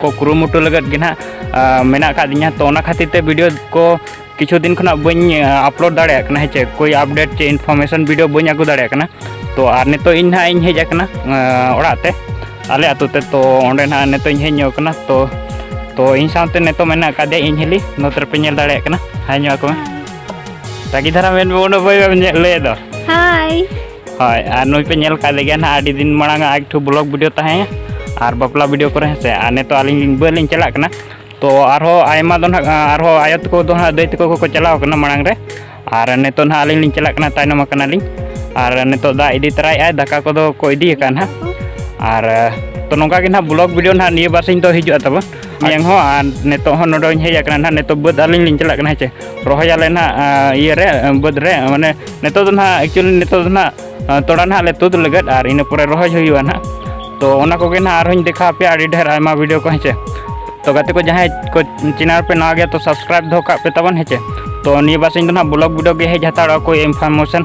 ᱠᱚ ᱠᱩᱨᱩᱢᱩᱴᱩ ᱞᱟᱹᱜᱤᱫ ᱜᱮ ᱱᱟᱦᱟᱜ ᱢᱮᱱᱟᱜ ᱟᱠᱟᱫ ᱞᱤᱧᱟ ᱛᱚ ᱚᱱᱟ ᱠᱷᱟᱹᱛᱤᱨ ᱛᱮ ᱵᱷᱤᱰᱤᱭᱳ ᱠᱚ ᱠᱤᱪᱷᱩ ᱫᱤᱱ ᱠᱷᱚᱱᱟᱜ ᱵᱟᱹᱧ ᱟᱯᱞᱳᱰ ᱫᱟᱲᱮᱭᱟᱜ ᱠᱟᱱᱟ ᱦᱮᱸᱪᱮ ᱠᱳᱭ ᱟᱯᱰᱮᱴ ᱪᱮ ᱤᱱᱯᱷᱚᱨᱢᱮᱥᱚᱱ ᱵᱷᱤᱰᱤᱭᱳ ᱵᱟᱹᱧ ᱟᱹᱜᱩ ᱫᱟᱲᱮᱭᱟᱜ ᱠᱟᱱᱟ ᱛᱚ ᱟᱨ ᱱᱤᱛᱚᱜ ᱤᱧ ᱱᱟᱦᱟᱜ ᱤᱧ ᱦᱮᱡ ᱟᱠᱟᱱᱟ ᱚᱲᱟᱜ ᱛᱮ ᱟᱞᱮ ᱟᱹᱛᱩ ᱛᱮ ᱛᱚ ᱚᱸᱰᱮ ᱱᱟᱦᱟᱜ ᱱᱤᱛᱚᱜ ᱤᱧ ᱦᱮᱡ ᱧᱚᱜ ᱟᱠᱟᱱᱟ ᱛᱚ ᱛᱚ ᱤᱧ ᱥᱟᱶᱛᱮ ᱱᱤᱛᱚᱜ ᱢᱮᱱᱟᱜ ᱟᱠᱟᱫᱮᱭᱟ ᱤᱧ ᱦᱤᱞᱤ ᱱᱚᱛᱮ ᱨᱮᱯᱮ ᱧᱮᱞ ᱫᱟᱲᱮᱭᱟᱜ ᱠᱟᱱᱟ ᱦᱟᱭ ᱧᱚᱜ ᱟᱠᱚ ᱢᱮ ᱨᱟᱹᱜᱤ ᱫᱷᱟᱨᱟ ᱢᱮᱱ ᱵᱚᱱ ᱵᱟᱹᱭ ᱵᱟᱹᱭ ᱞᱟᱹᱭ ᱫᱚ ᱦᱟᱭ ᱦᱳᱭ ᱟᱨ ᱱᱩᱭ ᱯᱮ ᱧᱮᱞ ᱠᱟᱜ ᱞᱮᱜᱮᱭᱟ ᱱᱟᱦᱟᱜ ᱟᱹᱰᱤ ᱫᱤᱱ ᱢᱟᱲᱟᱝ ᱟᱜ ᱮᱠᱴᱩ ᱵᱞᱚᱜ ᱵᱷᱤᱰᱤᱭᱳ ᱛᱟᱦᱮᱸ ᱟᱨ ᱵᱟᱯᱞᱟ ᱵᱷᱤᱰᱤᱭᱳ ᱠᱚᱨᱮ ᱦᱮᱸᱥᱮ ᱟᱨ ᱱᱤᱛᱚᱜ ᱟᱹᱞᱤᱧ ᱢᱩᱢᱵᱟᱭ ᱞᱤᱧ ᱪᱟᱞᱟᱜ ᱠᱟᱱᱟ ᱛᱚ ᱟᱨᱦᱚᱸ ᱟᱭᱢᱟ ᱫᱚ ᱱᱟᱦᱟᱜ ᱟᱨᱦᱚᱸ ᱟᱭᱳ ᱛᱟᱠᱚ ᱫᱚ ᱱᱟᱦᱟᱜ ᱫᱟᱹᱭ ᱛᱟᱠᱚ ᱠᱚᱠᱚ ᱪᱟᱞᱟᱣ ᱠᱟᱱᱟ ᱢᱟᱲᱟᱝ ᱨᱮ ᱟᱨ ᱱᱤᱛᱚᱜ ᱱᱟᱦᱟᱜ ᱟᱹᱞᱤᱧ ᱞᱤᱧ ᱪᱟᱞᱟᱜ ᱠᱟᱱᱟ ᱛᱟᱭᱱᱚᱢ ᱟᱠᱟᱱᱟᱞᱤᱧ ᱟᱨ ᱱᱤᱛᱚᱜ ᱫᱟᱜ ᱤᱫᱤ ᱛᱚᱨᱟᱭᱮᱫᱼᱟᱭ ᱫᱟᱠᱟ ᱠᱚᱫᱚ ᱠᱚ ᱤᱫᱤ ᱟᱠᱟᱫᱼᱟ ᱱᱟᱦᱟᱜ ᱟᱨ ᱛᱚ ᱱᱚᱝᱠᱟ ᱜᱮ ᱱᱟᱦᱟᱜ ᱵᱞᱚᱜ ᱵᱷᱤᱰᱤᱭᱳ ᱱᱟᱦᱟᱜ ᱱᱤᱭᱟᱹ ᱵᱟᱨ ᱥᱤᱧ ᱫᱚ ᱦᱤᱡᱩᱜᱼᱟ ᱛᱟᱵᱚᱱ ᱢᱮᱭᱟᱝ ᱦᱚᱸ ᱟᱨ ᱱᱤᱛᱚᱜ ᱦᱚᱸ ᱱᱚᱰᱮᱧ ᱦᱮᱡ ᱟᱠᱟᱱᱟ ᱱᱟᱦᱟᱜ ᱱᱤᱛᱚᱜ ᱵᱟᱹᱫᱽ ᱟᱹᱞᱤᱧ ᱞᱤᱧ ᱪᱟᱞᱟᱜ ᱠᱟᱱᱟ ᱦᱮᱸ ᱪᱮ ᱨᱚᱦᱚᱭ ᱟᱞᱮ ᱱᱟᱦᱟᱜ ᱤᱭᱟᱹ ᱨᱮ ᱵᱟᱹᱫᱽ ᱨᱮ ᱢᱟᱱᱮ ᱱᱤᱛᱚᱜ ᱫᱚ ᱱᱟᱦᱟᱜ ᱮᱠᱪᱩᱭᱮᱞᱤ ᱱᱤᱛᱚᱜ ᱫᱚ ᱱᱟᱦᱟᱜ ᱛᱚᱲᱟ ᱱᱟᱦᱟᱜ ᱞᱮ ᱛᱩᱫ ᱞᱟᱹᱜᱤᱫ ᱟᱨ ᱤᱱᱟᱹ ᱯᱚᱨᱮ ᱨᱚᱦᱚᱭ ᱦᱩᱭᱩᱜᱼᱟ ᱱᱟᱦᱟᱜ ᱛᱚ ᱚᱱᱟ ᱠᱚᱜᱮ ᱱᱟᱦᱟᱜ ᱟᱨᱦᱚᱸᱧ ᱫᱮᱠᱷᱟᱣ ᱟᱯᱮᱭᱟ ᱟᱹᱰᱤ ᱰᱷᱮᱨ ᱟᱭᱢᱟ ᱵᱷᱤᱰᱤᱭᱳ ᱠᱚ ᱦᱮᱸᱪᱮ ᱛᱚ ᱜᱟᱛᱮ ᱠᱚ ᱡᱟᱦᱟᱸᱭ ᱠᱚ ᱪᱮᱱᱮᱞ ᱯᱮ ᱱᱟᱣᱟ ᱜᱮᱭᱟ ᱛᱚ ᱥᱟᱵᱥᱠᱨᱟᱭᱤᱵ ᱫᱚᱦᱚ ᱠᱟᱜ ᱯᱮ ᱛᱟᱵᱚᱱ ᱦᱮᱸᱪᱮ ᱛᱚ ᱱᱤᱭᱟᱹ ᱵᱟᱨ ᱤᱧ ᱫᱚ ᱱᱟᱦᱟᱜ ᱵᱞᱚᱜ ᱵᱷᱤᱰᱤᱭᱳ ᱜᱮ ᱦᱮᱡ ᱦᱟᱛᱟᱲᱚᱜᱼᱟ ᱠᱚ ᱤᱱᱯᱷᱚᱨᱢᱮᱥᱚᱱ